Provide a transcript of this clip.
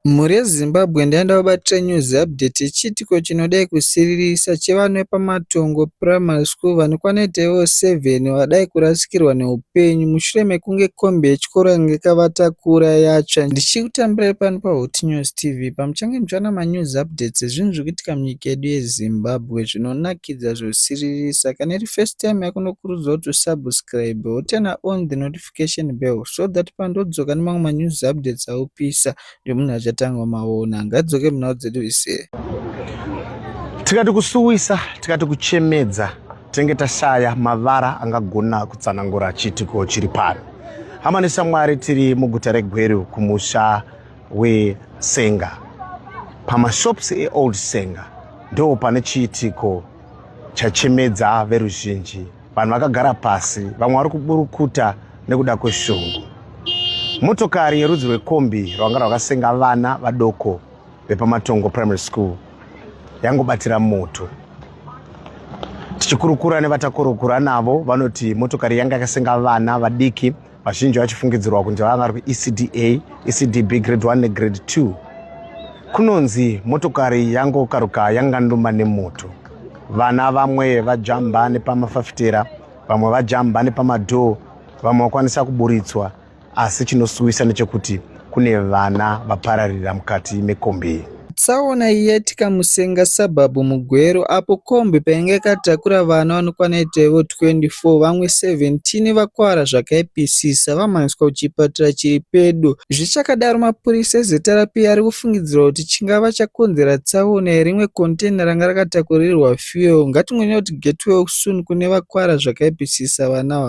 Mhuri yeZimbabwe ndaenda kubatira news update yechiitiko chinodai kusiririsa chevana vepaMatongo Primary School vanokwana kuita ivo 7 vadai kurasikirwa neupenyu mushure mekunge kombi yechikoro yange yakavatakura yatsva. Ndichikutambirai pano paHotnews TV pamuchange muchiwana manews updates ezvinhu zviri kuitika munyika yedu yeZimbabwe zvinonakidza zvosiririsa. Kana iri first time yako ndokurudzira kuti usubscribe wotana on the notification. notification bell so that pandodzoka nemamwe ma news updates aopisa nekuti munhu achatanga maona ngadzoke munhau dzedu ise tikati kusuwisa tikati kuchemedza tinenge tashaya mavara angagona kutsanangura chiitiko chiri pano hama neshamwari tiri muguta regweru kumusha wesenga pamashops eold senga ndo pane chiitiko chachemedza veruzhinji Vanhu vakagara pasi, vamwe vari kuburukuta nekuda kweshungu. Motokari yerudzi rwekombi rwanga rwakasenga vana vadoko vepaMatongo Primary School yangobatira moto. Tichikurukura nevatakurukura navo vanoti motokari yanga yakasenga vana vadiki vazhinji vachifungidzirwa kunzi vanga vari kuecda ecdb grade 1 negrade 2 kunonzi motokari yangokaruka yanganduma nemoto vana vamwe vajamba nepamafafitera vamwe vajamba nepamadhoo vamwe vakwanisa kuburitswa asi chinosuwisa nechekuti kune vana vapararira mukati mekombi iyi. Tsaona iyi yaitika muSenga suburb muGweru apo kombi painge yakatakura vana vanokwana itaivo 24 vamwe 17 vakuvara zvakaipisisa vamhanyiswa kuchipatara chiri pedo. Zvichakadaro mapurisa eZRP ari kufungidzirwa kuti chingava chakonzera tsaona iyi rimwe container ranga rakatakurirwa fuel. Ngatingonyeya kuti get well soon kune vakuvara zvakaipisisa vana ava.